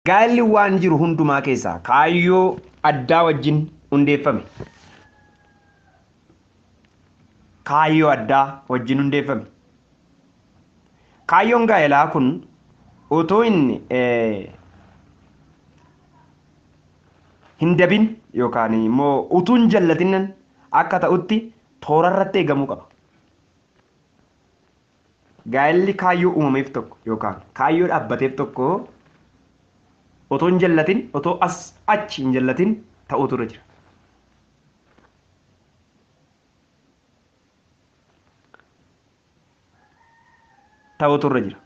Gaa'elli waan jiru hundumaa keessaa kaayyoo addaa wajjin hundeeffame. Kaayyoo addaa wajjin hundeeffame. Kaayyoon gaa'elaa kun otoo hin hin dabin yookaan immoo utuu hin jallatinnan akka ta'utti toora irratti eegamuu qaba. Gaa'elli kaayyoo uumameef tokko yookaan kaayyoo dhaabbateef tokko otoo hin jallatin, otoo as achi hin jallatin ta'uutu irra jira. Ta'uutu irra jira.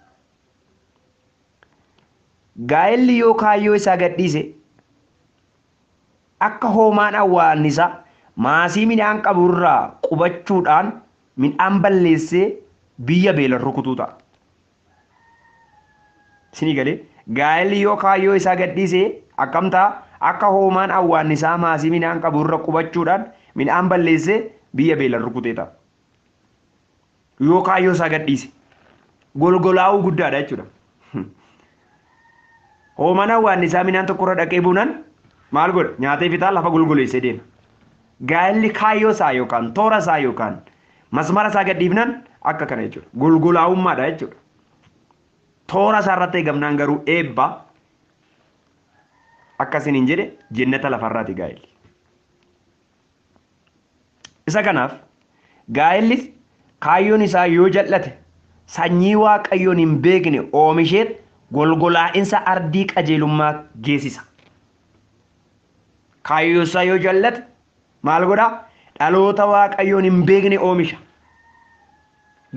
Gaa'elli yoo kaayyoo isaa gadhiise Akka hoomaan awwaannisaa maasii midhaan qabu irraa qubachuudhaan midhaan balleessee biyya beelan rukutuu ta'a. Isinii galee? Gaa'elli yoo kaayyoo isaa gadhiise akkam ta'a? Akka hoomaan awwaannisaa maasii midhaan qabu irra qubachuudhaan midhaan balleessee biyya beelan rukutee ta'a. Yoo kaayyoo isaa gadhiise golgolaa'uu guddaadha jechuudha. Hoomanaan waan isaa midhaan tokkorra dhaqee buunaan maal godha? Nyaatee fixaa lafa golgoleessee deema. Gaa'elli kaayyoo isaa yookaan toora isaa yookaan masmara isaa gadhiifnaan akka kana jechuudha. Golgolaa'ummaadha jechuudha. Toora isaa irratti eegamnaan garuu eebba akkasiin hin jedhe jennata lafarraati gaa'elli. Isa kanaaf gaa'ellis kaayyoon isaa yoo jal'ate sanyii Waaqayyoon hin beekne oomisheet golgolaa'insa ardii qajeelummaa geessisa. Kaayyoo isaa yoo jal'ate maal godhaa? Dhaloota Waaqayyoon hin beekne oomisha.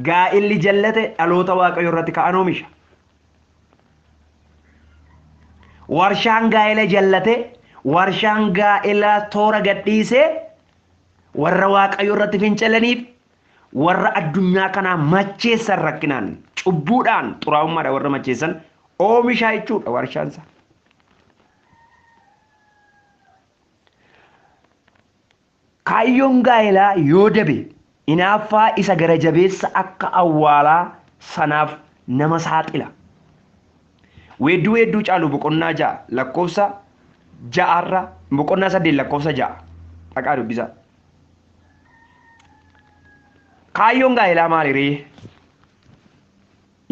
Gaa'illi jallate dhaloota Waaqayyoo irratti ka'an oomisha. Warshaan gaa'ela jallate warshaan gaa'elaa toora gadhiisee warra Waaqayyoo irratti fincilaniif warra addunyaa kanaa macheessan rakkinaan cubbuudhaan xuraa'ummaadhaan warra macheessan oomishaa jechuudha warshaan isaa. Kaayyoon gaa'elaa yoo dabe inaaffaa isa gara jabeessa akka awwaalaa sanaaf nama saaxila. Weedduu Weedduu Caaluu boqonnaa 6 lakkoofsa 6 irra boqonnaa 8 lakkoofsa 6 dhaqaa dubbisaa. Kaayyoon gaa'elaa maali ree?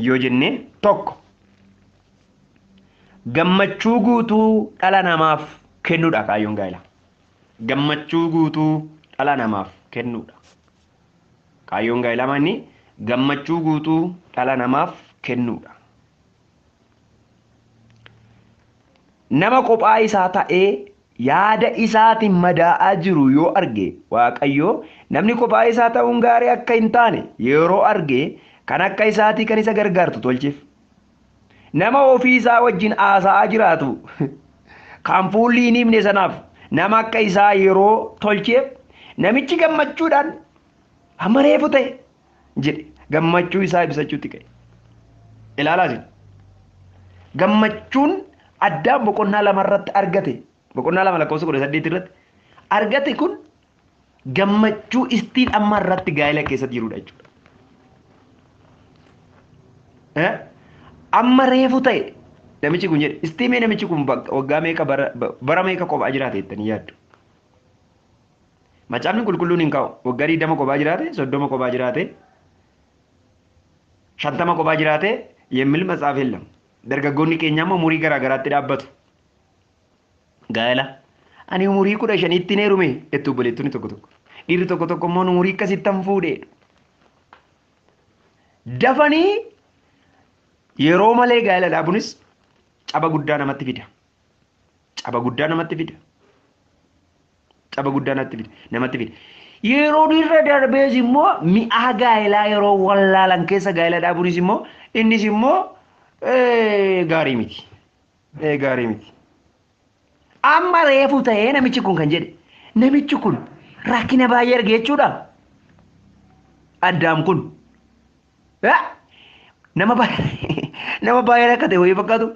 yoo jenne tokko gammachuu guutuu dhala namaaf kennudha kaayyoon gaa'elaa. gammachuu guutuu dhala namaaf kennuudha. Kaayyoon gaa'ilaa manni gammachuu guutuu dhala namaaf kennuudha. Nama kophaa isaa ta'ee yaada isaatiin madaa'aa jiru yoo arge Waaqayyo namni kophaa isaa ta'uun gaarii akka hin taane yeroo arge kan akka isaatii kan isa gargaartu tolcheef. Nama ofii isaa wajjin haasa'aa jiraatu kan fuulli hin ifne sanaaf nama akka isaa yeroo tolcheef namichi gammachuudhaan amma reefu ta'e jedhe gammachuu isaa ibsachuutti ka'e. Ilaalaa isin. Gammachuun addaan boqonnaa lamarratti argate boqonnaa 2 lakkoofsa 18 irratti argate kun gammachuu istiin amma irratti gaa'ela keessatti jirudha jechuudha. Eh? Amma reefu ta'e namichi kun jedhe istiimee namichi kun bak- waggaa meeqa bara ba- bara meeqa kophaa jiraate jettanii yaaddu. Macaafni qulqulluun hin kaa'u waggaa 20 kophaa jiraate 30 kophaa jiraate shantama kophaa jiraate yemmil matsaaf hellam. Dargaggoonni keenya amma umurii garaa garaatti dhaabbatu. Gaa'ela ani umurii kudha shaniitti hin heerume jettu obboleettonni tokko tokko. Dhiirri tokko tokko immoo umurii akkasittan fuudhe. Dafanii yeroo malee gaa'ela dhaabunis caba guddaa namatti fida. Caba guddaa namatti fida. Caba guddaa namatti fida. Namatti fida. Yeroo dhiirra darbees immoo mi'aa gaa'elaa yeroo wallaalan keessa gaa'ela dhaabunis immoo innis immoo gaarii miti. Ee gaarii miti. Amma reefu ta'ee namichi kun kan jedhe namichi kun rakkina baay'ee arge jechuudha. Addaam kun. Eh, Nama baay'ee nama baay'ee rakkate wayii fakkaatu.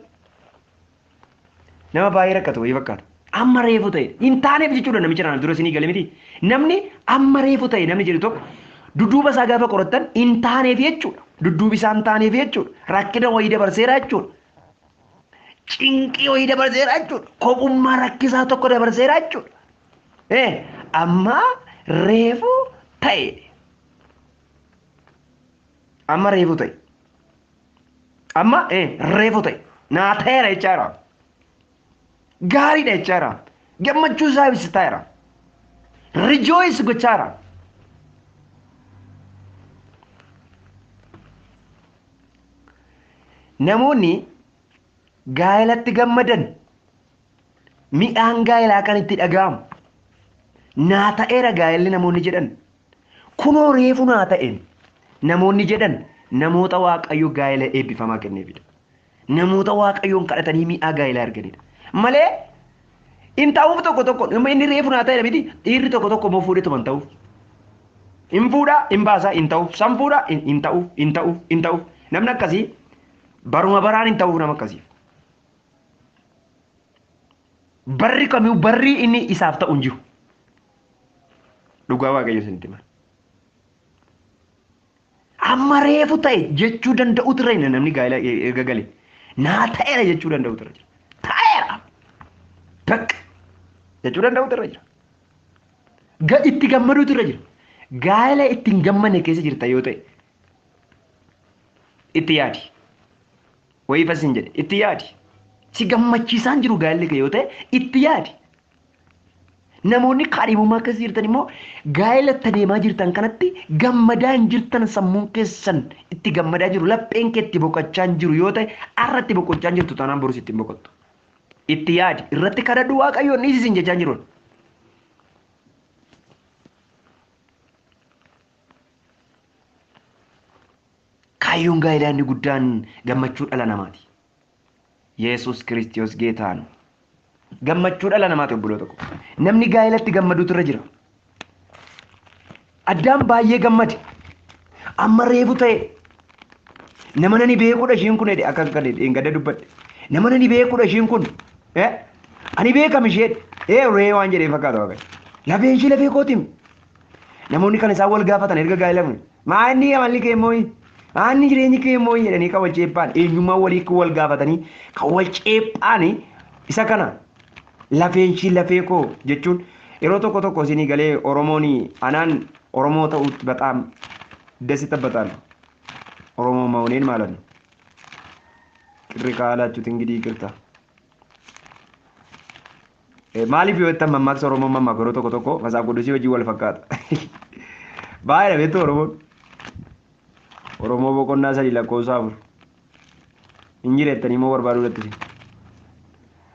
Nama baay'ee rakkate wayii fakkaatu. Amma reefu ta'e hin taaneef jechuudha namicha naaf dura isinii gale miti. Namni amma reefu ta'e namni jedhu tokko dudduuba isaa gaafa qorattan hin taaneef jechuudha. Dudduubi isaa hin taaneef jechuudha. Rakkina wayii dabarseera jechuudha. cinqii wayii dabarseera jechuudha. Kophummaa rakkisaa tokko dabarseera jechuudha. Eh, amma reefu ta'e. Amma reefu ta'e. Amma eh, reefu ta'e. Naa ta'eera jechaa jira. Gaariidha jechaa jira. Gammachuu isaa ibsitaa jira. Rejoice gochaa jira. Namoonni gaa'elatti gammadan midhaan gaa'elaa kan itti dhaga'amu naa ta'eera gaa'elli namoonni jedhan Kunoo reefu naa ta'een namoonni jedhan namoota Waaqayyo gaa'ela eebbifamaa kenneefidha. Namoota Waaqayyoon kadhatanii mi'aa gaa'elaa arganidha. Malee hin ta'uuf tokko tokko amma inni reefu naa ta'edha miti dhiirri tokko tokko immoo fuudhee tuman ta'uuf. Hin fuudhaa hin baasaa hin ta'uuf san fuudhaa hin hin ta'uuf hin ta'uuf hin ta'uuf namni akkasii baruma baraan hin ta'uuf nama akkasiif. Barri kamiyyuu barri inni isaaf ta'u hin jiru. Dhugaa waaqayyo isinitti hima. Amma reefu ta'e jechuu danda'utu irra jira namni gaa'ela erga gale. Naa ta'eera jechuu danda'utu irra jira. Ta'eera. Bakka jechuu danda'utu irra jira. Ga itti gammaduutu irra jira. Gaa'ela itti hin gammanne keessa jirta yoo ta'e itti yaadi wayii fasin jedhe itti yaadi si gammachiisaan jiru gaalli kee yoo ta'e itti yaadi namoonni kaadhimummaa keessa jirtan immoo gaa'ela itti deemaa jirtan kanatti gammadaa hin jirtan sammuun keessan itti gammadaa jiru lapheen kee itti boqochaa hin jiru yoo ta'e har'a itti boqochaa hin jirtu taanaan borus itti hin boqottu itti yaadi irratti kadhadhu waaqayyoon dhiisi isin jechaa hin jiru Kaayyoon gaa'ilaa inni guddaan gammachuu dhala namaati. Yesus Kiristiyoos Geetaan gammachuu dhala namaati obboloota koo. Namni gaa'ilatti gammaduutu irra jira. Addaam baay'ee gammade. Amma reefu ta'e. Nama nani beekudha ishiin kun jedhe akka gadi dheengadda dubbadhe. Nama nani beekudha ishiin kun. Eh? Ani beekam ishee. Eh ree waan jedhee fakkaata waaqayyo. Lafeen ishii lafee kootiim. Namoonni kan isaan wal gaafatan erga gaa'elamu maa inni amalli kee immoo maa inni jireenyi kee immoo jedhanii kan wal ceephaan eenyummaa walii kan wal gaafatanii kan wal ceephaan isa kana lafeen ishii lafee koo jechuun yeroo tokko tokko isinii galee Oromoon anaan Oromoo ta'uutti baxaam dasi tabbataal Oromoo ma'oneen maalan qirri kaalaachuu tingidii qirta. Maaliif yoo jettan mammaaksa Oromoon mammaaku yeroo tokko tokko masaaf godhusii wajjin wal fakkaata. Baay'eedha beektu Oromoon. Oromoo boqonnaa sadii lakkoofsa afur. Hin jireettanii immoo barbaaduu irratti isin.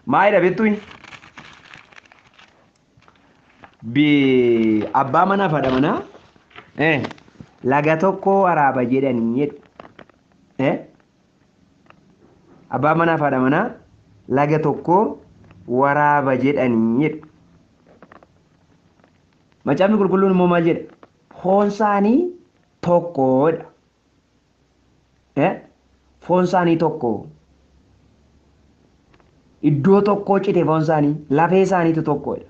Maayidha beektu hin. Abbaa manaa fi haadha manaa laga tokko waraaba jedhanii jedhu. Abbaan manaa fi haadha manaa laga tokko waraaba jedhanii jedhu. Macaafni qulqulluun immoo maal jedha? Foon isaanii tokkodha. Eh? Foon isaanii tokko. Iddoo tokkoo cite foon isaanii, lafee isaaniitu tokko jedha.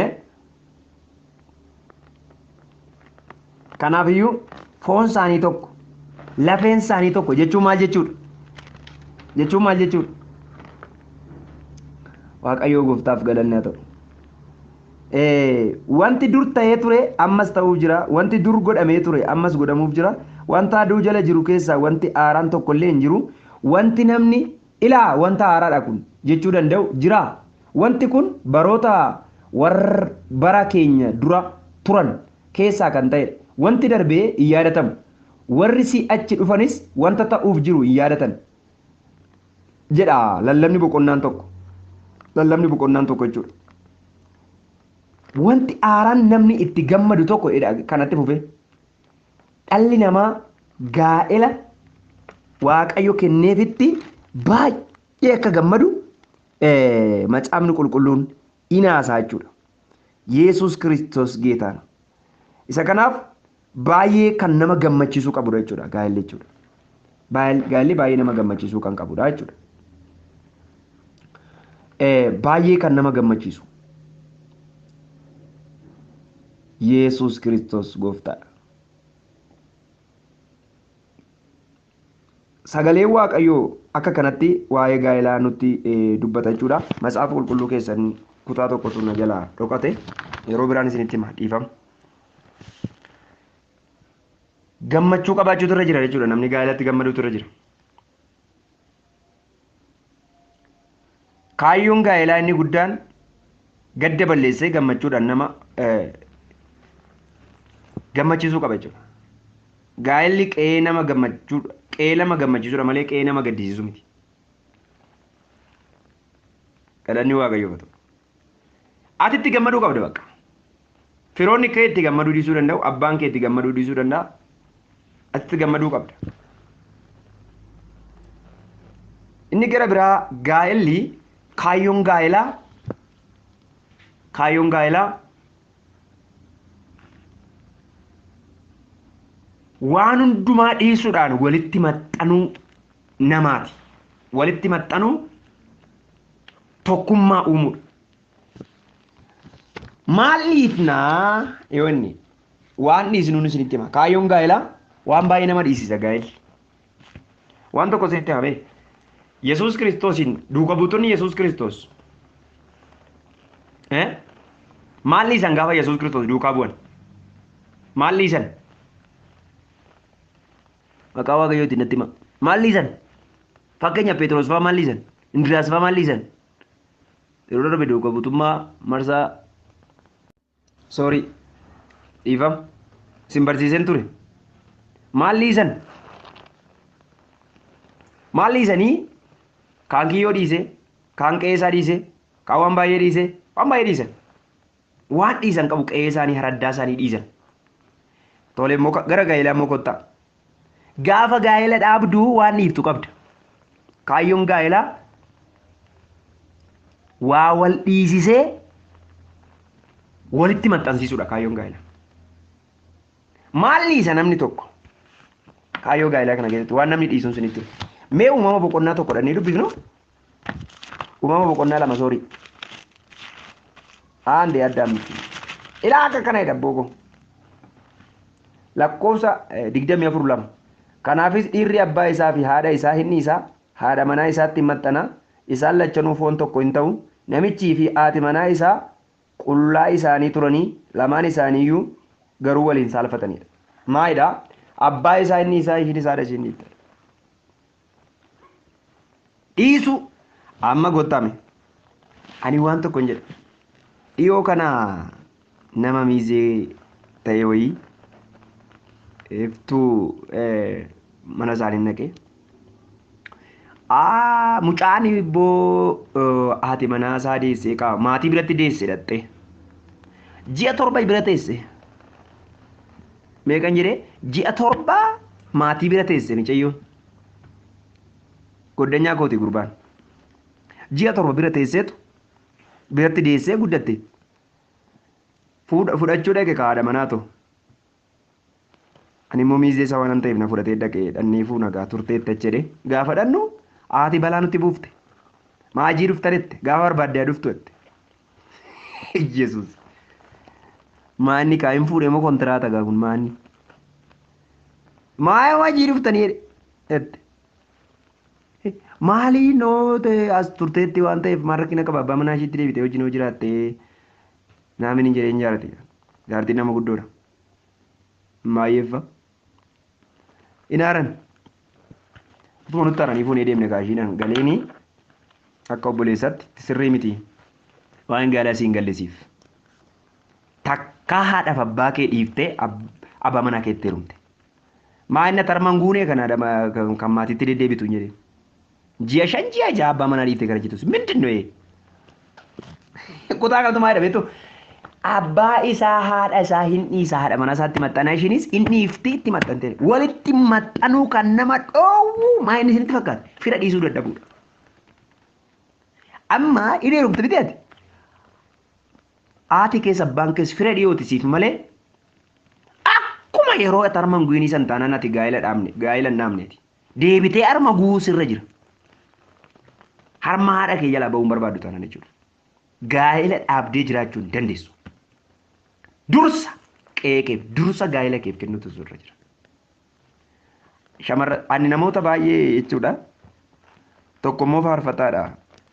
Eh? Kanaaf iyyuu foon isaanii tokko, lafeen isaanii tokko jechuun maal jechuudha? Jechuun maal jechuudha? Waaqayyoo gooftaaf galanni haa ta'u. Wanti dur ta'ee ture ammas ta'uuf jira. Wanti dur godhamee ture ammas godhamuuf jira. Wanta aduu jala jiru keessaa wanti haaraan tokko illee hin jiru. Wanti namni ilaa wanta haaraadha kun jechuu danda'u jira. Wanti kun baroota warra bara keenya dura turan keessaa kan ta'edha. Wanti darbe hin yaadatamu. Warri si'achi dhufanis wanta ta'uuf jiru hin yaadatan. jedha lallabni boqonnaan tokko lallabni boqonnaan tokko jechuudha. Wanti aaraan namni itti gammadu tokko jedha kanatti fufee dhalli namaa gaa'ela waaqayyo kenneefitti baay'ee akka gammadu eh, macaafni qulqulluun inaasaa jechuudha. Yesus Kiristoos geetaana. Isa kanaaf baay'ee kan nama gammachiisuu qabudha jechuudha gaa'elli jechuudha. Gaa'elli baay'ee nama gammachiisuu kan qabudha jechuudha. Baay'ee kan nama gammachiisu. Yesus Kiristoos gooftaadha. Sagaleen Waaqayyoo akka kanatti waa'ee gaa'elaa nutti dubbata jechuudha. Matsaafa qulqulluu keessan kutaa tokkotu na jalaa dhokate yeroo biraan isinitti hima dhiifama. Gammachuu qabaachuutu irra jira jechuudha namni gaa'elatti gammaduutu irra jira. Kaayyoon gaa'elaa inni guddaan gadda balleessee gammachuudhaan nama gammachiisuu qaba jechuudha. Gaa'elli qe'ee nama gammachuudha. Qe'ee nama gammachiisudha malee qe'ee nama gaddisiisu miti. Galanni Waaqayyoof haa ta'u. Ati itti gammaduu qabda bakka. Firoonni kee itti gammaduu dhiisuu danda'u, abbaan kee itti gammaduu dhiisuu danda'a. Ati itti gammaduu qabda. Inni gara biraa gaa'elli kaayyoon gaa'elaa kaayyoon gaa'elaa waan hundumaa dhiisuudhaan walitti maxxanuu namaati. Walitti maxxanuu tokkummaa uumuudha. Maal dhiifnaa yoo inni waan dhiisnuun isinitti hima. Kaayyoon gaa'elaa waan baay'ee nama dhiisisa gaa'elli. Waan tokko isinitti himee. Yesuus Kiristoosiin duuka buutonni Yesuus Kiristoos. Maal dhiisan gaafa Yesuus Kiristoos duukaa bu'an? Maal dhiisan? Maqaa waaqayyootiin natti hima. Maal dhiisan? Fakkeenya Pheexroos fa'aa maal dhiisan? Indiriyaas fa'aa maal dhiisan? Yeroo darbe duuka buutummaa marsaa soorii dhiifama isin barsiiseen ture. Maal dhiisan? Maal dhiisanii kaan kiyyoo dhiise, kaan qe'ee isaa dhiise, kaan waan baay'ee dhiise, waan baay'ee dhiisan. Waan dhiisan qabu qe'ee isaanii haraddaa isaanii dhiisan. Tole immoo ka- gara gaa'elaa immoo kottaa. Gaafa gaa'ela dhaabdu waan dhiiftu qabda. Kaayyoon gaa'elaa waa wal dhiisisee walitti maxxansiisuudha kaayyoon gaa'elaa. Maal dhiisa namni tokko? Kaayyoo gaa'elaa kana keessatti waan namni dhiisuun sinitti. hima. Mee uumama boqonnaa tokko dhannee dubbifnu Uumama boqonnaa lama soorii. Aandee adda ammatti. Ilaa akka kana jedha booko. Lakkoofsa digdamii afur lama. Kanaafis dhiirri abbaa isaa fi haadha isaa hin dhiisa, haadha manaa isaatti hin maxxana, isaan lachanuu foon tokko hin ta'u, namichii fi haati manaa isaa qullaa isaanii turanii lamaan isaaniiyyuu garuu waliin saalfatanidha. Maalidha? Abbaa isaa hin dhiisa, ishiin isaadha ishiin dhiifte. dhiisu amma gottame ani waan tokko hin jedha dhiyoo kana nama miizee ta'e wayii iftuu mana isaanii naqee aa mucaan ibboo haati manaa isaa deessee qaba maatii biratti deesse dhaxxee ji'a torba bira teesse meeqan jedhee ji'a torbaa maatii bira teesse micayyoon. Goddanyaa kooti gurbaan. Ji'a torba bira teesseetu biratti deessee guddatte. Fuudha- Fudhachuu dhaqe kaadha manaa too. Ani immoo miizee isaa waan ta'eef na fudhatee dhaqe dhannee fuuna gaa turtee itti achi jedhee gaafa dhannu haati balaa nutti buufte. Maajii dhufta jette gaafa barbaadde haa dhuftu jette. Yesus. Maanni kaa hin fuudhe moo kontiraata gaa kun maanni. Maaya wajii dhuftanii jette. Maalii noote as turteetti waan ta'eef maal rakkina qaba abbaa manaa ishiitti deebitee wajjin hoo jiraatte naamini jedhee hin jaarati. Jaartiin nama guddoodha. Maayyeeffa hin aaran utuma nutti aaranii fuunee deemne gaashiidhaan galeeni akka obboleessaatti itti sirrii miti waan gaalaa siin gallisiif takkaa haadhaaf abbaa kee dhiiftee ab- abbaa manaa keetti heerumte maa inni tarman guunee kana dama- kan kan maatiitti deddeebitu hin jedhin Ji'a shan ji'a ja'a abbaa manaa dhiiftee gara jetus. Mindin nu Kutaa kanatu maal jedhame jechuun abbaa isaa haadha isaa hin dhiisa haadha manaa isaatti maxxanaa ishiinis hin dhiifti itti maxxantee walitti maxxanuu kan nama dhoowwu maa inni isinitti fakkaata fira dhiisuu dadhabuudha. Amma hin heerumte miti ati. Haati keessa abbaan keessa fira dhiyooti siif malee akkuma yeroo ati harman guinii san taanaan ati gaa'ila dhaabne gaa'ila hin dhaabneeti. Deebitee harma guuun sirra jira. Harma haadha kee jalaa ba'uun barbaaddu taanaan jechuudha. Gaa'ela dhaabdee jiraachuu hin dandeessu. Dursa qe'ee keef, dursa gaa'ela keef kennuutu sirra jira. Shamarra ani namoota baay'ee jechuudha. Tokko immoo faarfataadha.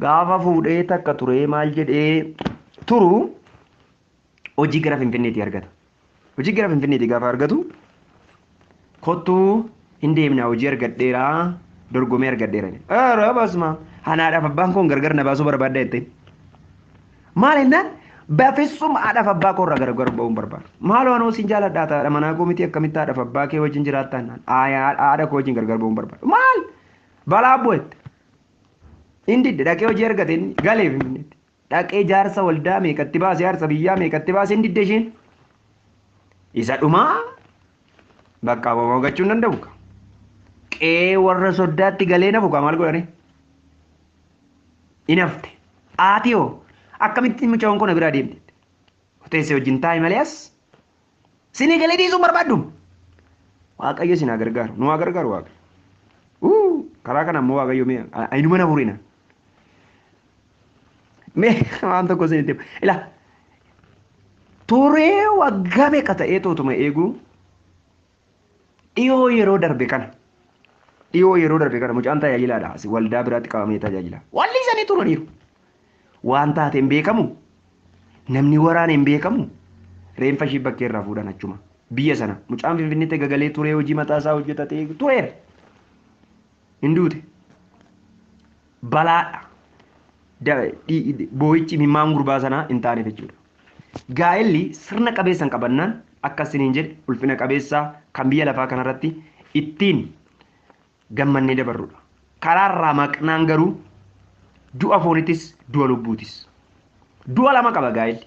Gaafa fuudhee takka turee maal jedhee turu hojii gara Finfinneetii argata. Hojii gara Finfinneetii gaafa argatu kottuu hin deemnaa hojii argadheera dorgomee argadheera. Aaraa baasuma hanaadhaaf abbaan koon gargar na baasuu barbaadda jettee. Maal jennaan bafissum haadhaaf abbaa koo irraa gargar ba'uun barbaadu. Maaloo anoo siin jaaladhaa ta'a manaa koo miti akkamitti haadhaaf abbaa kee wajjin jiraattaa naan haadha koo wajjin gargar ba'uun barbaadu. Maal balaa bu'etti. Hin didde dhaqee hojii argate inni galee finfinneetti. Dhaqee jaarsa waldaa meeqatti baase jaarsa biyyaa meeqatti baase hin didde isheen. Isa dhumaa bakka abamoo gachuu hin danda'u. ka. Qee warra soddaatti galee nafu kaa maal godhani? Hin hafte. Haati hoo akkamitti mucaan kun na biraa deemte? Teessee wajjin taa'i malee as Sinii galee dhiisuun barbaaddu. Waaqayyo isin haa gargaaru. Nu haa gargaaru Waaqayyo. Uu, Karaa kana immoo Waaqayyo mee ayinuma na furina. Mee waan tokko isinitti hima. Ila turee waggaa meeqa ta'ee tootuma eeguu Dhiyoo yeroo darbe kana dhiyoo yeroo darbe kana mucaan tajaajilaadha asi waldaa biraatti qabamee tajaajila. Walli isanii turaniiru. Waan taate hin beekamu. Namni waraana hin beekamu. Reenfa ishii bakkee irraa fuudhan achuma. Biyya sana mucaan finfinnitti gagalee turee hojii mataa isaa hojjetatee tureera. Hin duute. balaadha. Da- dhi- dhi- Boo'ichi imimmaan gurbaa sanaa hin taaneef jechuudha. Gaa'elli sirna qabeessan qabannaan akka isiniin jedhe ulfina qabeessaa kan biyya lafaa kanarratti ittiin gammannee dabarrudha. Karaa irraa maqnaan garuu du'a foonitis du'a lubbuutis. Du'a lama qaba gaa'elli.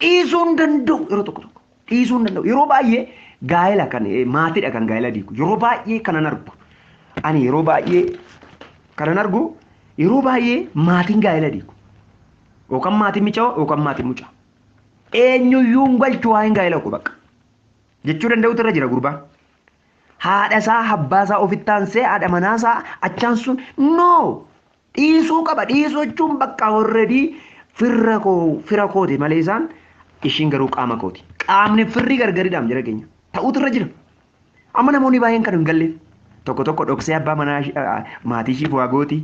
Dhiisuu hin danda'u yeroo tokko tokko. Dhiisuu hin danda'u. Yeroo baay'ee gaa'ela kan eh, maatiidha kan gaa'ela diigu. Yeroo baay'ee kanan argu. Ani yeroo baay'ee kanan argu yeroo baay'ee maatiin gaa'ela diigu. Yookaan maatiin micaa yookaan maatiin mucaa. Eenyuyyuu hin galchu waa'een gaa'ela koo bakka. Jechuu danda'utu irra jira gurbaan. Haadha isaa abbaa isaa ofitti aansee haadha manaa isaa achaan sun no Dhiisuu qaba dhiisuu jechuun bakka horredii firra koo fira kooti malee isaan ishiin garuu qaama kooti. Qaamni firri gargaridhaam jira keenya. Ta'uutu irra jira. Amma namoonni baay'een kan hin galleef tokko tokko dhoksee abbaa manaa maatii ishiif waa gooti.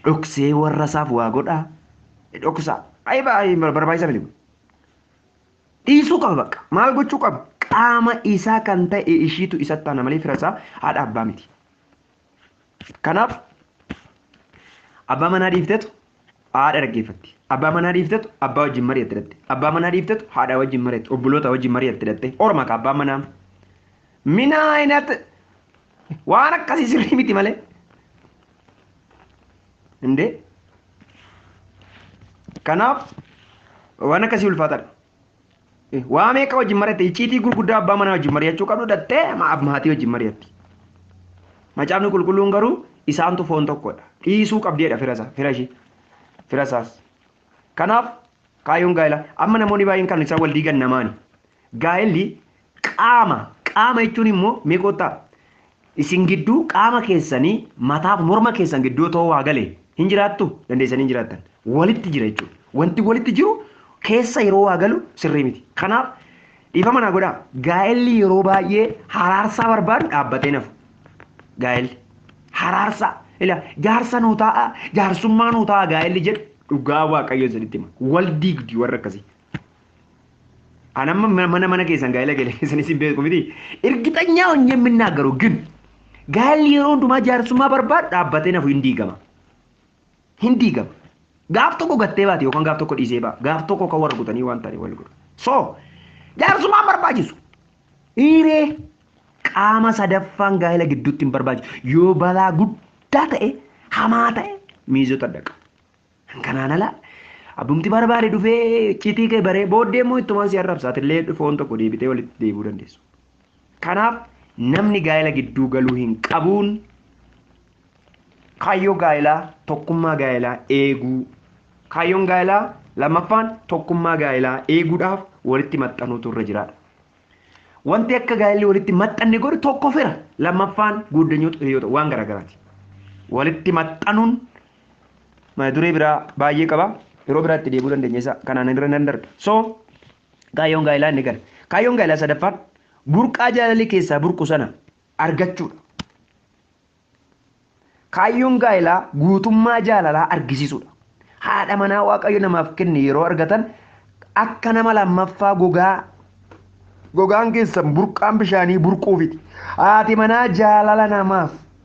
Dhoksee warra isaaf waa godhaa. Dhoksaa. Baay'ee barbaachisaa miti. Dhiisuu qaba bakka. Maal gochuu qaba? Qaama isaa kan ta'e ishiitu isatti taana malee fira isaa haadha abbaa miti. Kanaaf abbaa manaa dhiiftetu haadha dhaggeeffatti. Abbaa manaa dhiiftetu abbaa wajjin mari'atti dhatte. Abbaa manaa dhiiftetu haadhaa wajjin mari'atti obboloota wajjin mari'atti dhatte. Orma ka abbaan manaa. Mina ayinat waan akkasii sirrii miti malee. Indee. Kanaaf waan akkasii ulfaataadha. Waa meeqa wajjin mari'atte icciitii gurguddaa abbaa manaa wajjin mari'achuu qabdu dhattee maatii wajjin mari'atti. Macaafni qulqulluun garuu isaantu foon tokkodha. Dhiisuu qabdeedha firasa fira ishii firasaas. Kanaaf kaayyoon gaa'ela amma namoonni baay'een kan isaan wal diigan namaani. Gaa'elli qaama qaama jechuun immoo meeqoottaa Isin gidduu qaama keessanii mataaf morma keessan gidduu otoo waa gale hin jiraattu dandeessanii hin jiraattan. Walitti jira jechuudha. Wanti walitti jiru keessa yeroo waa galu sirrii miti. Kanaaf dhiifama naa godhaa gaa'elli yeroo baay'ee haraarsaa barbaadu dhaabbatee nafu. Gaa'elli haraarsaa ila jaarsa nuu taa'a jaarsummaa nuu taa'a gaa'elli jedhu dhugaa waaqayyo isinitti hima. Wal diigdi warra akkasii. An amma ma- mana mana keessan gaa'ela gale keessan isin beeku miti. Irgixanyaa ሆኜ የምናገረው ግን gaa'elli yeroo hundumaa jaarsummaa barbaadu dhaabbatee nafu hin diigama. Hin diigama. Gaaf tokko gattee baate yookaan gaaf tokko dhiisee ba'a. Gaaf tokko kan warra kutanii waan ta'anii wal godhu. So jaarsummaa hin barbaachisu. Dhiiree qaama sadaffaan gaa'ela gidduutti hin barbaachisu. Yoo balaa guddaa ta'e hamaa ta'e miizota dhaqa. Kanaan ala abbumti barbaade dhufee icciitii kee baree booddee immoo ittumaan si arrabsa atillee dhufoon tokko deebitee walitti deebi'uu dandeessu. Kanaaf namni gaa'ela gidduu galuu hin qabuun kaayyoo gaa'elaa tokkummaa gaa'elaa eeguu kaayyoon gaa'elaa lammaffaan tokkummaa gaa'elaa eeguudhaaf walitti maxxanuutu irra jiraadha. Wanti akka gaa'elli walitti maxxanne godhu tokko fira lammaffaan guuddanyoota hiriyoota waan garaagaraati. Walitti maxxanuun mata duree biraa baay'ee qaba yeroo biraatti deebuu dandeenya isa kanaan irra nan darba so kaayyoon gaa'ilaa inni kana kaayyoon gaa'ilaa sadaffaan burqaa jaalalli keessaa burqu sana argachuudha kaayyoon gaa'ilaa guutummaa jaalalaa argisiisuudha haadha manaa waaqayyo namaaf kenne yeroo argatan akka nama lammaffaa gogaa gogaan keessan burqaan bishaanii burquufiti haati manaa jaalala namaaf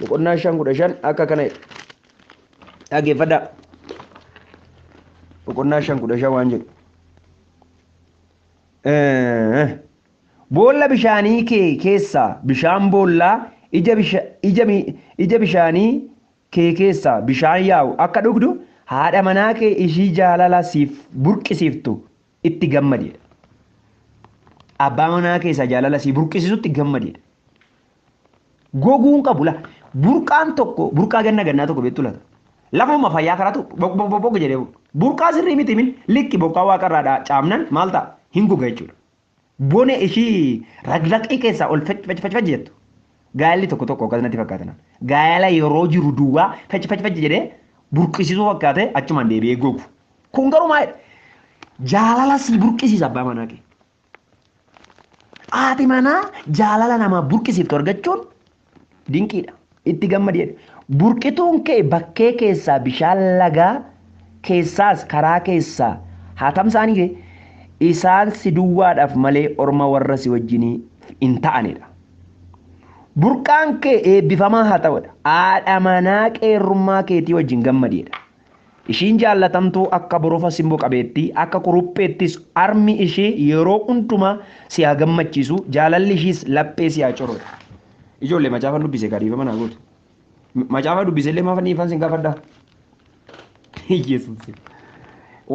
boqonnaa shan kudha shan akka kana jedha. Dhaggeeffadhaa. Boqonnaa shan kudha shan waan jedhu. Eh, Boolla bishaanii kee keessaa bishaan boollaa ija bisha- ija mi- ija bishaanii kee keessaa bishaan yaa'u akka dhugdu haadha manaa kee ishii jaalala siif burqisiiftu itti gammadi jedha. Abbaa manaa keessaa jaalala sii burqisisutti gammadi jedha. Goguu hin qabu la burqaan tokko burqaa ganna gannaa tokko beektu lata. Lafuma fayyaa karaatu bok bok bok bok jedhee bu'u. burqaa sirrii miti min likki bokkaa waaqarraa dha caamnan maal ta'a hin goga jechuudha. Bone ishii raglaqii keessaa ol fec fec fec fec jettu. Gaa'elli tokko tokko akkas natti fakkaatan. Gaa'ela yeroo jiru duwwaa fec fec fec jedhee burqisisuu fakkaatee achumaan deebi'ee gogu. Kun garuu maal jaalala sii burqisiisa abbaa manaa kee. Haati manaa jaalala namaa burqisiiftu argachuun dinqiidha. Itti gammadi. Burqituun kee bakkee keessaa bishaan lagaa keessaas karaa keessaa haa tamsaanii kee isaan si duwwaadhaaf malee orma warra si wajjinii hin ta'anidha. Burqaan kee eebbifamaa haa ta'udha. Haadha manaa qeerrummaa keetii wajjin gammadiidha. Ishiin jaallatamtuu akka borofa simbo qabeettii, akka kurupheettis armi ishee yeroo hundumaa si haa gammachiisu, jaalalli ishiis laphee si haa corrotu. Ijoollee macaafan dubbise egaa dhiifama naa gootu. M- Macaafaa dubbise illee maafan dhiifan sin gaafadha? Yesuus.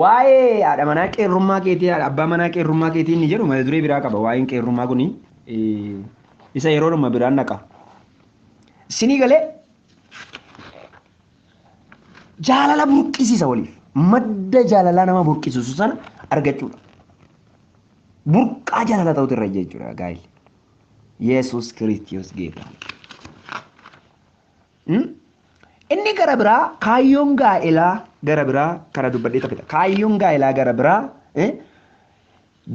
Waa'ee haadha manaa qeerrummaa keetii, haadha abbaa manaa qeerrummaa keetii inni jedhu mata duree biraa qaba. Waa'een qeerrummaa kuni eh, isa yeroodhuma biraan naqa. Sinii galee Jaalala burqisiisa waliif. Madda jaalalaa nama burqisiisu sana argachuudha. Burqaa jaalala ta'utu irra jechuudha gaa'illi. Yesuus Kiristiyoos geeta. Inni gara biraa kaayyoon gaa'elaa gara biraa kana dubbadhee taphata. Kaayyoon gaa'elaa gara biraa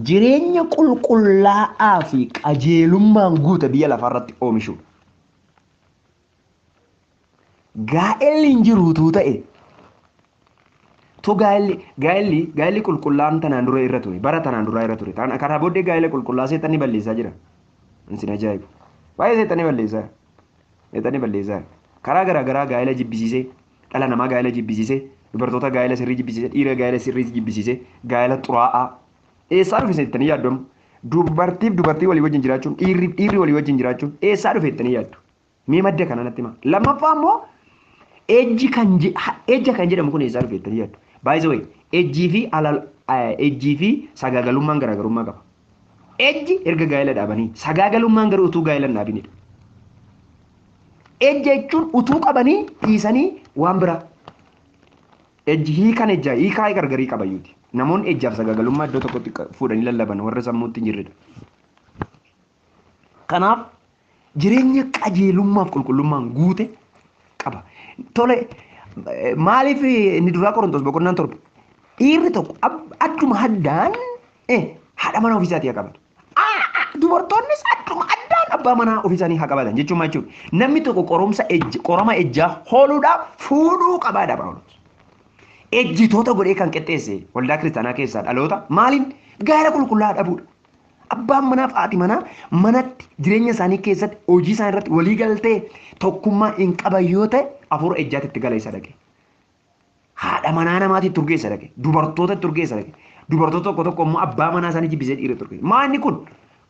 jireenya qulqullaa'aa fi qajeelummaan guute biyya lafaarratti oomishuudha. gaa'elli hin jiru utuu ta'e tu gaa'elli gaa'elli gaa'elli qulqullaa'aan tanaan dura irra ture bara tanaan duraa irra ture taan karaa booddee gaa'ela qulqullaa'aa seexanni balleessaa jira isin ajaa'ibu baay'ee seexanni balleessaa seexanni balleessaa karaa garaa garaa gaa'ela jibbisiisee dhala namaa gaa'ela jibbisiisee dubartoota gaa'ela sirrii jibbisiisee dhiira gaa'ela sirrii jibbisiisee gaa'ela xuraa'aa eessaa dhufe seexanni yaaddomu dubartiif dubartii walii wajjin jiraachuun dhiirriif dhiirri walii wajjin jiraachuun eessaa dhufe jettanii yaaddu Mee madda kana natti himaa. Lammaffaa immoo ejji kan je- ha- ejja kan jedhamu kun eessaa dhufe jettanii yaaddu. By the way, ejjii fi alal eh, ejjii fi sagaagalummaan garaagarummaa qaba. Ejji erga gaa'ela dhaabanii sagaagalummaan garuu utuu gaa'ela hin dhaabinidha. Ejja jechuun utuu qabanii dhiisanii waan biraa. Ejji hiikan ejjaa hiikaa gargarii qabayyuuti. Namoonni ejjaaf sagaagalummaa iddoo tokkotti qa- fuudhanii lallaban warra sammuutti hin jirredha. Kanaaf jireenya qajeelummaaf qulqullummaan guute qaba. Tole maaliif inni duraa Qorontos boqonnaan torba dhiirri tokko adduma addaan haadha manaa ofiisaatii haa qabatu. Dubartoonnis adduma addaan abbaa manaa ofiisaanii haa qabatan jechuun maal jechuudha? Namni tokko qorumsa qorama ejjaa hooluudhaaf fuudhuu qabaadha Phaawulos. Ejjitoota godhee kan qixxeesse waldaa kiristaanaa keessaa dhaloota maaliin gaara qulqullaa'aa dhabuudha. Abbaan manaa fi haati manaa manatti jireenya isaanii keessatti hojii isaanii irratti walii galtee tokkummaa hin qaban yoo ta'e afuura ejjaatti itti gala isa dhaqe. Haadha manaa namaatti itti urgeessa dhaqe. Dubartoota itti urgeessa dhaqe. Dubartoota tokko tokko immoo abbaa manaa isaanii jibbisee dhiira itti urgeessa. Maa inni kun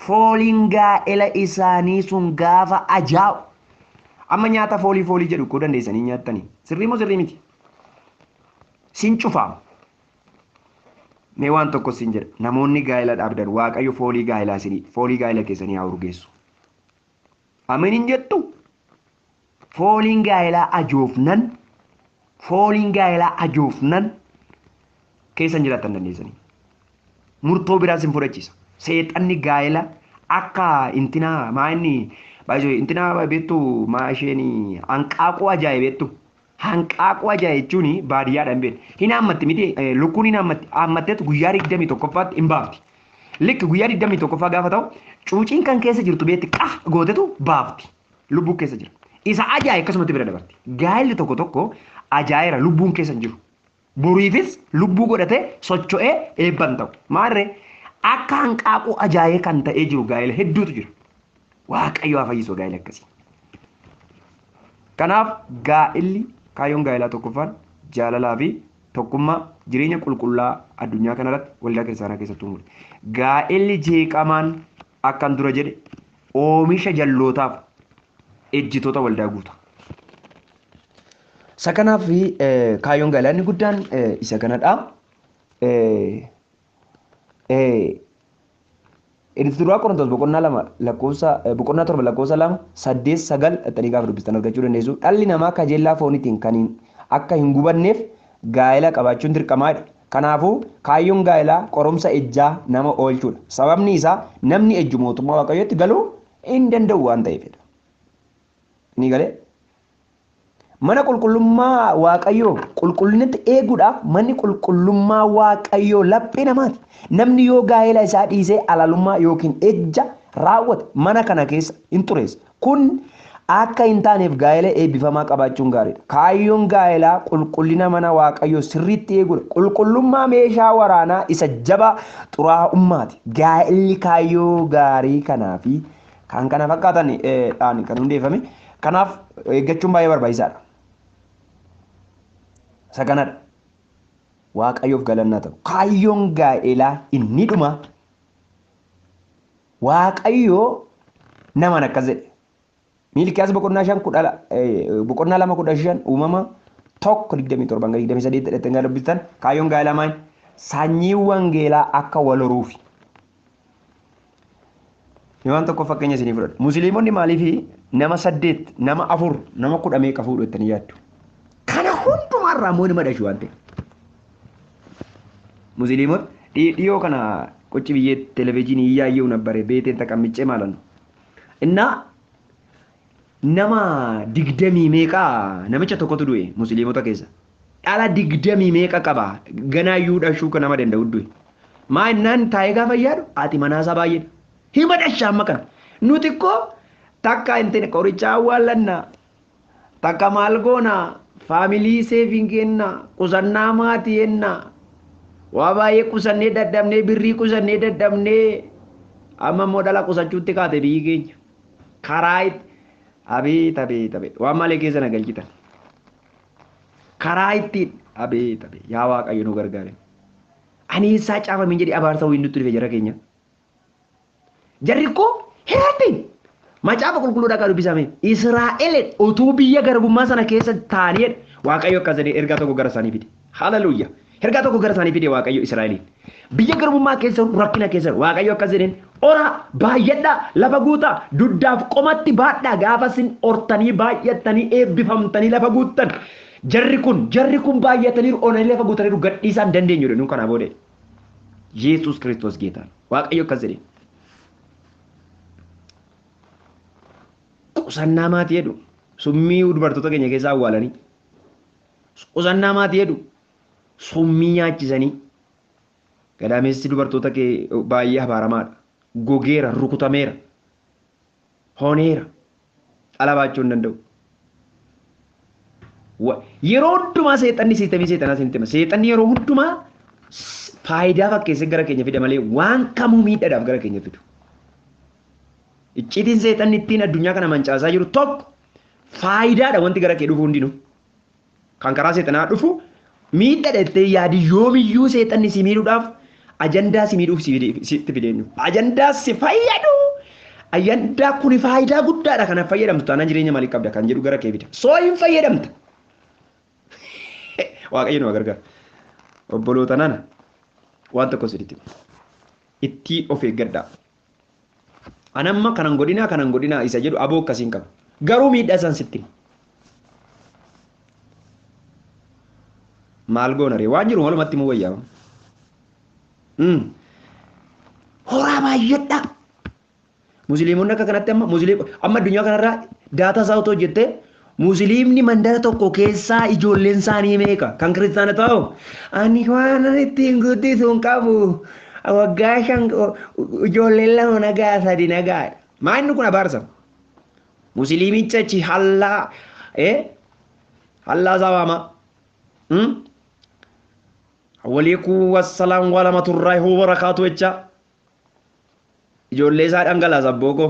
fooliin gaa'ela isaanii sun gaafa ajaa'u. Amma nyaata foolii foolii jedhu koo dandeessanii nyaattanii. Sirrii moo sirrii miti? Sin cufaama. Mee waan tokko sin jedha. Namoonni gaa'ela dhaabdan Waaqayyo foolii gaa'elaa isinii foolii gaa'ela keessanii haa urgeessu. Ameen hin jettu. Fooliin gaa'elaa ajoofnan fooliin gaa'elaa ajoofnan keessan jiraattan dandeessanii. Murtoo biraa sin fudhachiisa. Seexanni gaa'ela akka intinaa maa inni baay'isoo intinaa beektu maa isheen hanqaaquu ajaa'e beektu Hanqaaquu ajaa jechuun baadiyyaadha hin beekne. Hin haammatti miti lukkuun hin haammatti. Haammatteetu guyyaa 21ffaatti hin baafti. Likki guyyaa 21ffaa gaafa ta'u cuuciin kan keessa jirtu beekti qah gootetu baafti. Lubbuu keessa jira. Isa ajaaye akkasumatti bira dabarti. Gaa'elli tokko tokko ajaayeera lubbuun keessa hin jiru. Boriifis lubbuu godhatee socho'ee eebba hin ta'u. Maarree akka hanqaaquu ajaa'ee kan ta'ee jiru gaa'ela hedduutu jira. Waaqayyo haa fayyisu gaa'ela akkasii. Kanaaf gaa'elli kaayyoon gaa'elaa tokkoffaan jaalalaa fi tokkummaa jireenya qulqullaa addunyaa kanarratti waldaa kiristaanaa keessatti uumudha. Gaa'elli jeeqamaan akkan dura jedhe oomisha jallootaaf ejjitoota waldaa guuta. Isa kanaaf kaayyoon galaa inni guddaan isa kanadha. Inni duraa Qorontoos boqonnaa lama lakkoofsa boqonnaa torba lakkoofsa lama saddeet sagal dhaxxanii gaafa dubbistan argachuu dandeessu. Dhalli namaa kajeellaa fooniitiin kan akka hin gubanneef gaa'ela qabaachuun dirqamaadha. Kanaafuu kaayyoon gaa'elaa qorumsa ejjaa nama oolchuudha. Sababni isaa namni ejju mootummaa waaqayyootti galuu hin danda'u waan ta'eefidha. Ni galee? Mana qulqullummaa Waaqayyoo qulqullinatti eeguudhaaf manni qulqullummaa Waaqayyoo laphee namaati. Namni yoo gaa'ela isaa dhiisee alalummaa yookiin ejja raawwate mana kana keessa hin xureessa. Kun akka hin taaneef gaa'ela eebbifamaa qabaachuun gaariidha. Kaayyoon gaa'elaa qulqullina mana Waaqayyoo sirriitti eeguudha. Qulqullummaa meeshaa waraanaa isa jabaa xuraa'ummaati. Gaa'illi kaayyoo gaarii kanaa fi kan kana fakkaatan dhaan kan hundeeffame. Kanaaf eeggachuun baay'ee barbaachisaadha. Isa kanadha. Waaqayyoof galannaa ta'u. Kaayyoon gaa'elaa inni dhumaa Waaqayyo namaan akkas jedhe. Miilkiyaas boqonnaa shan kudha la- eh, boqonnaa lama kudha shan uumama tokko digdamii torban hanga digdamii saddeet dhadhatti hanga dubbistan kaayyoon gaa'ela maal sanyii wangeelaa akka wal horuufi. Mee waan tokko fakkeenya isinii fudhadha. Musliimonni maaliif nama saddeet, nama afur, nama kudha meeqa fuudhu jettanii yaaddu? Kana hundumaa irraa immoo ilma dhashu waan ta'eef. Musliimota dhiyoo kana qocci biyyee televezyiinii iyyaayyuu nabbare beeteen taqammichee maalan Innaa nama digdamii meeqa namicha tokkotu du'e musliimota keessa. Dhala digdamii meeqa qaba ganaayyuu dhashuu kan nama danda'u du'e. Maa innaan taa'ee gaafa yaadu haati manaasaa baay'eedha. Hima dhasha amma kana. Nuti koo takka intin qorichaa awwaallanna Takka maal goona family saving keenna qusannaa maatii enna waa baay'ee qusannee dadhabnee birrii qusannee dadhabnee amma immoo dhala qusachuutti kaate biyyi keenya karaa itti abeet abeet abeet waan malee keessa na galchitan karaa ittiin abeet abeet yaa waaqayyo nu gargaare ani eessaa caafamin jedhi abaarsa wayii nutti dhufe jara keenya. Jarri koo hin rabbiin. Macaafa qulqulluu dhaqaa dubbisaame. Israa'eleen utuu biyya garbummaa sana keessa taa'anii Waaqayyo akkas jedhee ergaa tokko gara isaanii fide. Haleluuya! Ergaa tokko gara isaanii fide Waaqayyo Israa'eliin. Biyya garbummaa keessa jiru, rakkina keessa jiru. Waaqayyo akkas jedheen horaa, baay'adhaa, lafa guutaa, dugdaaf qomatti baadhaa gaafa isin hortanii baay'attanii eebbifamtanii lafa guuttan. Jarri kun jarri kun baay'ataniiru onanii lafa guutaniiru gadhiisaa hin dandeenyu jedhu kanaa booda. Yesuus Kiristoos Geetaa dha. Waaqayyo akkas jedhe. Qusannaa maatii jedhu summii dubartoota keenya keessaa awwaalanii qusannaa maatii jedhu summii nyaachisanii gadaamessi dubartoota kee baay'ee abaaramaadha. Gogeera, rukutameera. hooneera. Dhala baachuu hin danda'u. Wa- Yeroo hundumaa seexanni siistemii seexanaa isinitti hima. Seexanni yeroo hundumaa s- faayidaa fakkeessee gara keenya fida malee waan kamuu miidhadhaaf gara keenya fidu. Icciitiin seexanni ittiin addunyaa kana mancaasaa jiru tokko faayidaadha wanti gara kee dhufu hundinuu. Kan karaa seexanaa dhufu miidhadha jettee yaadi yoomiyyuu seexanni si miidhuudhaaf ajandaa si miidhuuf sitti fideenyu. Ajandaa si fayyadu ajandaa kuni faayidaa guddaadha kanaaf fayyadamtu taanaan jireenya maalii qabda kan jedhu gara kee fida. Soo hin fayyadamta. Waaqayyo nu gargaara. Obboloota nana waan tokko sirriitti ittii of eeggadhaa. An amma kanan godhinaa kanan godhinaa isa jedhu aboo akkasiin qabu. Garuu miidhaa isaan sitti hima. Maal goona ree? Waan jiru walumatti immoo wayyaa. Horaa baay'adhaa. Musliimonni akka kanatti amma musliim amma addunyaa kanarraa daataa isaa otoo jettee Musiliimni mandara tokko keessaa ijoolleen isaanii meeqa? Kan kiristaanotaa hoo? Ani waanan ittiin guddisu hin qabu. Waggaa shan ijoolleen lama nagaa sadi nagaa. Maa inni kun abaarsa? Musiliimicha achi hallaa eh hallaa isaa waamaa. Hmm? Waliikuu wassalaam waalamaturraahi wabarakaatu jechaa. Ijoollee isaa dhangalaasa abboo koo.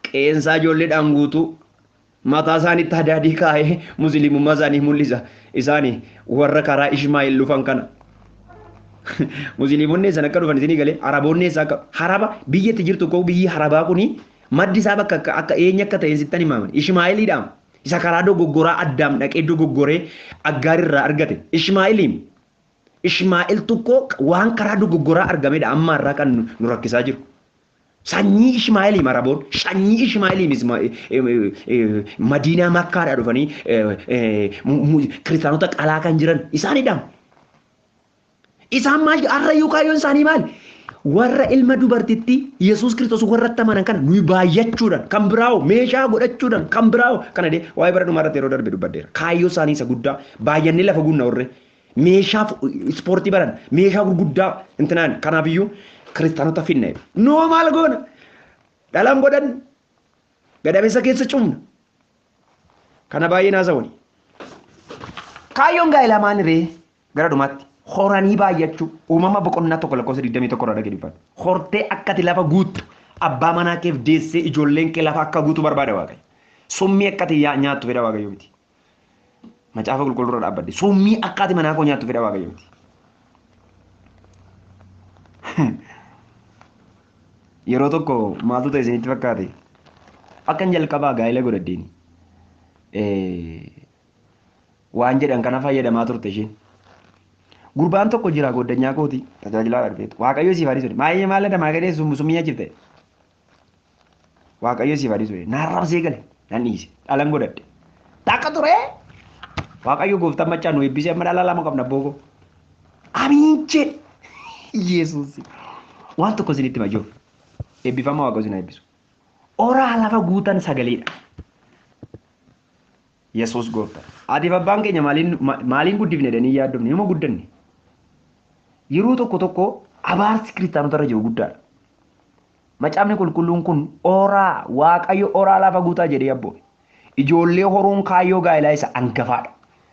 Qe'een isaa ijoolleedhaan guutuu. Mataa isaaniitti hadaadii kaa'ee musliimummaa isaanii mul'isa. Isaani warra karaa Ishmaa'il dhufan kana. Musliimonni eessan akka dhufan isinii galee Araboonni eessaa akka haraba biyya itti jirtu koo biyyi harabaa kuni maddi isaa bakka akka akka eenyu akka ta'e sittan himaama. Ishmaa'iliidhaam isa karaa dogoggoraa addaam dhaqee dogoggoree aggaar irraa argate. Ishmaa'iliim Ishmaa'el tokko waan karaa dogoggoraa argamedha amma har'aa kan nu rakkisaa jiru. Sanyii Ishmaa'eliim Araboon, sanyii Ishmaa'eliim Madiinaa Makkaadhaa dhufanii kiristaanota qalaa kan jiran isaanidhaam. Isaan maal har'a iyyuu kaayyoon isaanii maali? Warra ilma dubartitti Yesuus Kiristoos warra itti amanan kana nuyi baay'achuudhaan kan biraa hoo meeshaa godhachuudhaan kan biraa hoo kana dee waa'ee bara dhumaa irratti yeroo darbe dubbadheera. Kaayyoo isaanii isa guddaa baay'annee lafa guunna warree. Meeshaa fu- ispoortii baran meeshaa gurguddaa intinaan kanaafiyyuu kiristaanota finna jedhe. Noo maal goona? Dhalaan godhan gadameessa keessa cufna. Kana baay'ee naasa wani. Kaayyoon gaa'elaa maali ree? Gara dhumaatti horanii baay'achuu uumama boqonnaa tokko lakkoofsa 21 irraa dhagee dubbadhu. Hortee akka ati lafa guuttu abbaa manaa keef deessee ijoolleen kee lafa akka guutu barbaada waaqayyo. Summii akka ati yaa- nyaattu fedha waaqayyo miti. Macaafa qulqulluu irra dhaabbadhe. Summii akka ati manaa koo nyaattu fedha waaqayyooti. Yeroo tokko maaltu ta'e isinitti fakkaate? Akkan jalqabaa gaa'ila godhadheen waan jedhan kana fayyadamaa turte isheen. Gurbaan tokko jira goddanyaa kooti tajaajilaadha dhufeetu. Waaqayyo siif haa dhiisu. Maayee maal jedha maayee summii nyaachifte. Waaqayyo siif haa dhiisu. Naan rabsee gale nan dhiise dhalan godhadhe. Takka ture Waaqayyo gooftaan maccaa nu eebbisee amma dhala lama qabna booko. Amiin jedhe. Yesuus waan tokko isinitti hima jiru. Eebbifama Waaqayyo isin haa eebbisu. Oraa lafa guutan sagaleedha. Yesuus Gooftadha. Haatiif abbaan keenya maaliin maaliin guddifne jedhanii yaaddofne yooma guddanne. Yeroo tokko tokko abaarsi kiristaanota irra jiru guddaadha. Macaafni qulqulluun kun oraa waaqayyo oraa lafa guutaa jedhee abboome. Ijoollee horuun kaayyoo gaa'elaa isa angafaadha.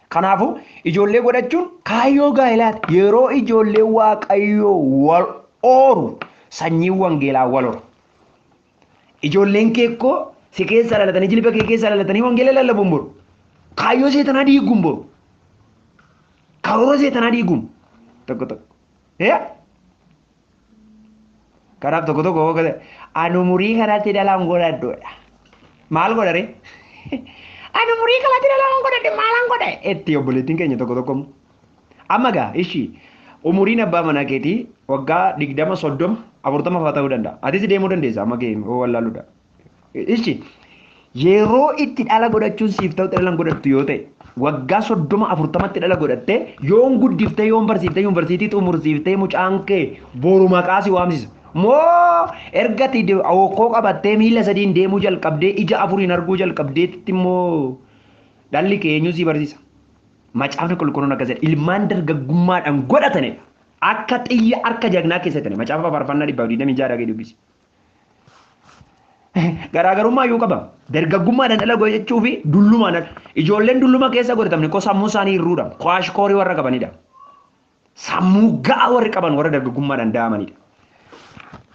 Kanaafuu ijoollee godhachuun kaayyoo gaa'elaati. Yeroo ijoollee waaqayyoo wal ooru sanyiin wangeelaa wal hora. Ijoolleen kee koo si keessaa dhalatanii jilba kee keessaa dhalatanii wangeela lallabuun boru. Kaayyoo seetanaa diiguun boru. Karoora seetanaa diiguun tokko tokko. Yaa! Kanaaf tokko tokko hoo kata ani umurii kanatti dhalaan godhadhoodha. Maal godha ree? Ani umurii kanatti dhalaan godhadhe maalaan godha? Etti obboleettiin keenya tokko tokko immoo. Amma gaa ishii umuriin abbaa manaa keetii waggaa digdama soddoma afurtama fa'aa ta'uu danda'a. Atis deemuu dandeessa amma ga'e wallaaludha. Ishii yeroo itti dhala godhachuun siif ta'u dhala hin godhattu yoo ta'e waggaa soddoma afurtamatti dhala godhattee yoon guddiftee yoon barsiiftee yuunivarsiitii xumursiiftee mucaan kee boru maqaa si waamsisa. Moo ergati hokkoo qabattee miila sadiin deemuu jalqabdee ija afuriin arguu jalqabdeetti immoo dhalli kee eenyuun si barsiisa. Macaafni Qulqulluun akkas jedha, ilmaan dargaggummaadhaan godhatani dha. Akka xiyya harka jagnaa keessatti dha. Macaafa Faarfannaa 126 dhaqii dubbisi. Garaagarummaa iyyuu qaba. Dargaggummaadhaan dhala godhachuu fi dullumaan dhala. Ijoolleen dulluma keessa godhatamne ko sammuu isaanii hir'uu dha. Ko ashkoorii warra qabani dha. Sammuu ga'aa warri qaban warra dargaggummaadhaan da'amanidha.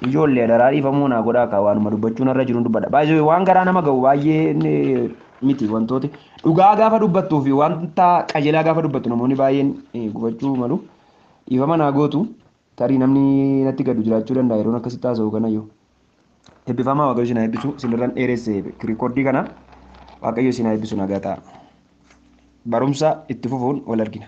Ijoollee adaraa dhiifamuu naa godhaa kaa waanuma dubbachuu narra jiruun dubbadha. Baay'ee waan garaa nama ga'u baay'ee miti wantooti. Dhugaa gaafa dubbattuu fi wanta qajeelaa gaafa dubbattu namoonni baay'een gubachuu malu. Dhiifama naa gootu tarii namni natti gaddu jiraachuu danda'a yeroon akkasitti haasa'u kanayyuu. Eebbifamaa Waaqayyo isin haa eebbisu sinirran dheeresse rikoordii kana Waaqayyo isin haa eebbisu nagaa ta'a. Barumsa itti fufuun wal argina.